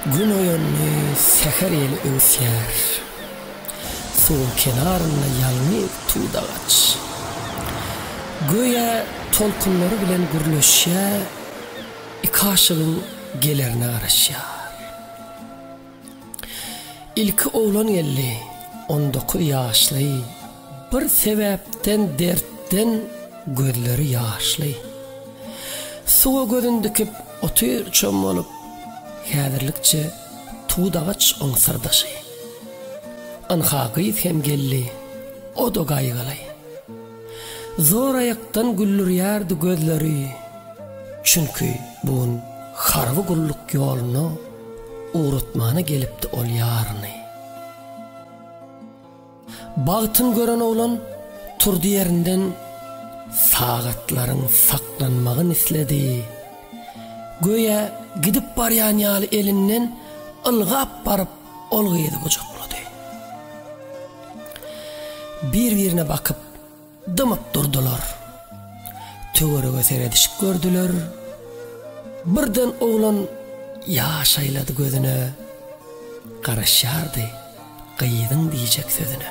Gün oýandy, säher ýeli öwüsýär. Suwuň kenarynda ýalňyz tudagaç. Göýä tolkunlary bilen gürleşýär, iki aşygyň gelerine garaşýar. Ilki oglan geldi, on dokuz ýaşly, Bir sebäpden, dertden gözleri ýaşly. Suwa gözün dikip otyr çommalyp, Häzirlikçe tudagaç oň syrdaşy. Ynha, gyz hem geldi, o-da gaýgyly. Zoraýakdan güldürýärdi gözleri, çünki bu gün harby gulluk ýoluna ugratmana gelipdi ol ýaryny. Bagtyn gören oglan turdy ýerinden, sagatlaryň saklanmagyny isledi. Göýä gidip barýan ýaly elinden ylgap baryp, Ol gyzy gujaklady. Bir-birine bakyp, dymyp durdular. Töwerege seredişip gördüler. Birden oglan ýaş aýlady gözüne. Garaşýardy gyzyň diýjek sözüne.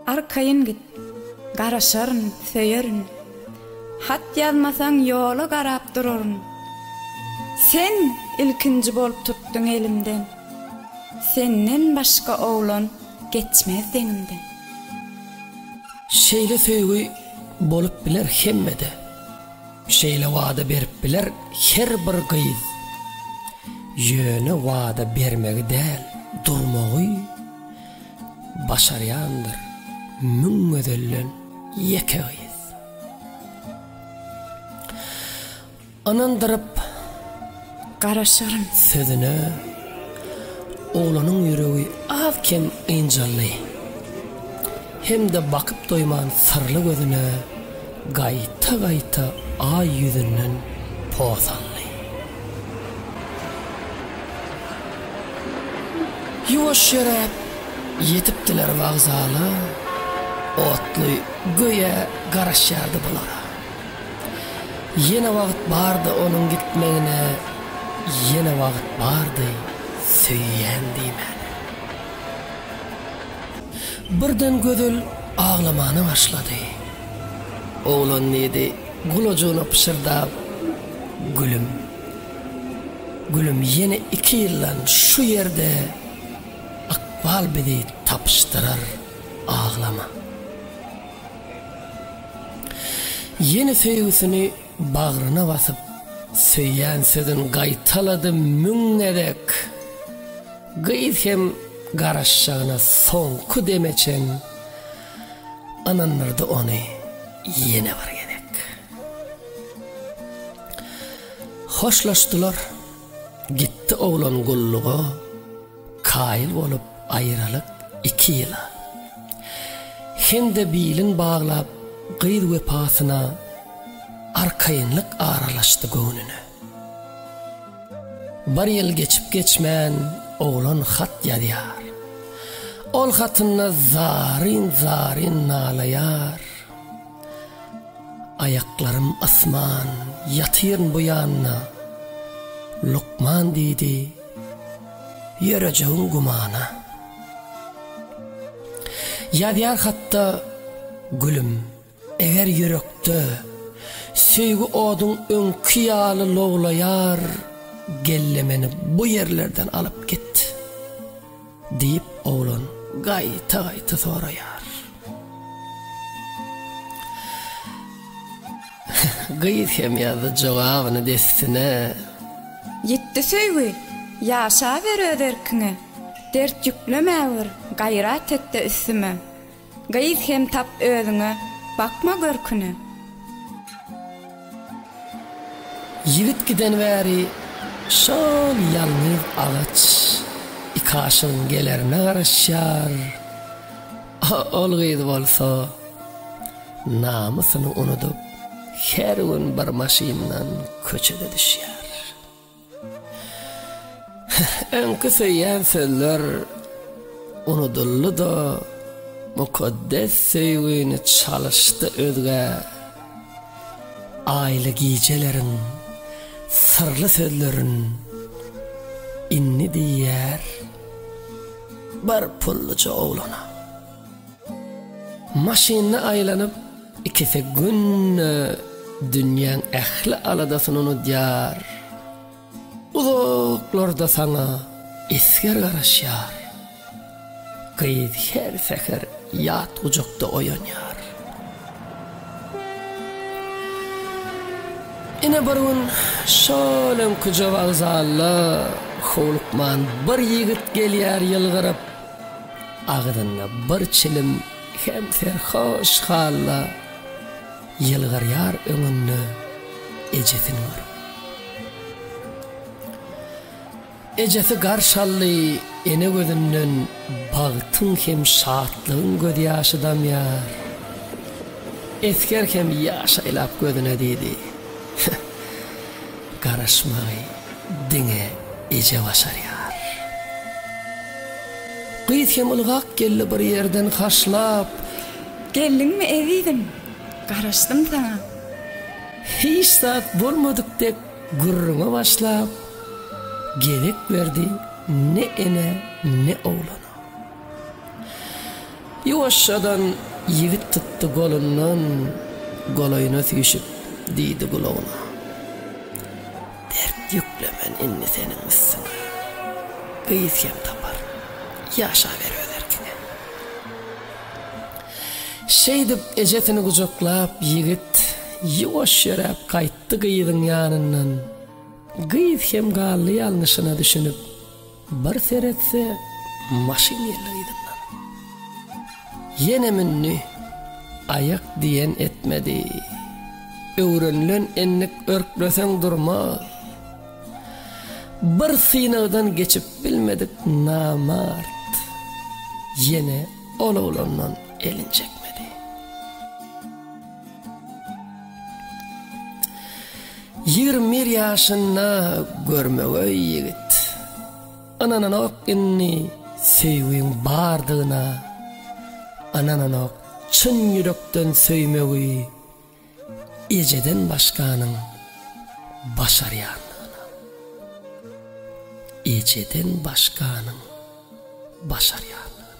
Arkaýyn git, garaşaryn, söýerin, Hat ýazmasaň ýola garap duraryn. Sen ilkinji bolup tutduň elimden, Senden başga oglan geçmez deňimden. Şeýle söýgi bolup biler hemmede, Şeýle wada berip biler her bir gyz. Ýöne wada bermegi däl, durmagy. Başarýandyr müň gözelden ýeke gyz. Ynandyryp garaşaryn sözüne Oglanyň ýüregi az-kem ynjaldy. Hem-de bakyp doýman syrly gözüne gaýta-gaýta Aý ýüzünden pos aldy. Ýuwaş ýöräp, ýetipdiler wokzala, otly göýä garaşýardy bulara. Ýene wagt bardy onuň gitmegine, ýene wagt bardy söýýän diýmäne. Birden Gözel aglamana başlady. Oglan diýdi. Gulajygyna pyşyrdap, Gülüm. Gülüm, ýene iki ýyldan şu ýerde ykbal bizi tapyşdyrar, aglama. Ýene söýgüsini bagryna basyp, söýýän sözün gaýtalady müň gezek. Gyz hem garaşjagyna soňky deme çen. Ynandyrdy ony ýene bir gezek. Hoşlaşdylar. Gitdi oglan gulluga, kaýyl bolup aýralyk iki ýyla. Hem-de bilin baglap gyz wepasyna arkaýynlyk aralaşdy göwnüne. Bir ýyl geçip-geçmän oglan hat ýazýar. Ol hatynda zaryn-zaryn nalaýar, Aýaklarym ysman, ýatyryn bu ýanda. Lukman diýdi, Ýörejegiň gümana. Ýazýar hatda, Gülüm, Eger ýürekde söýgi oduň öňki ýaly lowlaýar, gelle meni bu ýerlerden alyp git! diýip, oglan gaýta-gaýta soraýar. Gyz hem ýazdy jogabyny dessine. Ýitdi söýgi, ýaşaber öz erkiňe, dert ýüklemä bir, gaýrat et-de üstüme, Gyz hem tap özüňe, bakma görküne. Ýigit giden bäri şol ýalňyz agaç ikaşygyň gelerine garaşýar, ol gyz bolsa namysyny unudyp, her gün bir maşyndan köçede düşýär. Öňki söýýän sözler unudyldy-da, mukaddes söýgini çalyşdy özge aýly gijeleriň syrly sözlerin indi diýýär bir pulluja oglana. Maşynda aýlanyp, ikisi günde dünýäň ähli aladasyny unudýar. Uzaklarda saňa esger garaşýar. Gyz her säher ýat gujakda oýanýar. Ine bir gün şol öňküje wokzalda howlukman bir ýigit gelýär ýylgyryp. Agzynda bir çilim hem serhoş halla ýylgyrýar öňünde ejesini görüp. Ejesi garş aldy ene gözünden bagtyň hem şatlygyň göz ýaşy damýar. Esger hem ýaş aýlap gözüne diýdi. Garaşmaý. Diňe eje başarýar. Gyz hem ylgap geldi bir ýerden haşlap. Geldiňmi ezizim, garaşdym saňa. Hiç zat bolmadyk dek gürrüňe başlap. Gezek berdi ne enä, ne oglana. Ýuwaşjadan ýigit tutdy golundan, golaýyna süýşüp diýdi gulagyna. Dert ýüklemen indi seniň üstüňe. Gyz hem tapar, ýaşaber öz erkine. Şeýdip, ejesini gujaklap, ýigit ýuwaş ýöräp gaýtdy gyzyň ýanyndan. Gyz hem galdy ýalňyşyna düşünip. Bir seretse, maşyn geldi gyzyndan. Ýene mündi, aýak diýen etmedi. Öwrenilen endik örkleseň durmaz. Bir synagdan geçip bilmedik namart. Ýene ol oglandan elin çekmedi. Ýigrimi bir ýaşynda görmegeý ýigit. Ynananok indi söýgiň bardygyna. Ynananok çyn ýürekden söýmegi ejeden başganyň başarýandygyna. Ejeden başganyň başarýandygyna.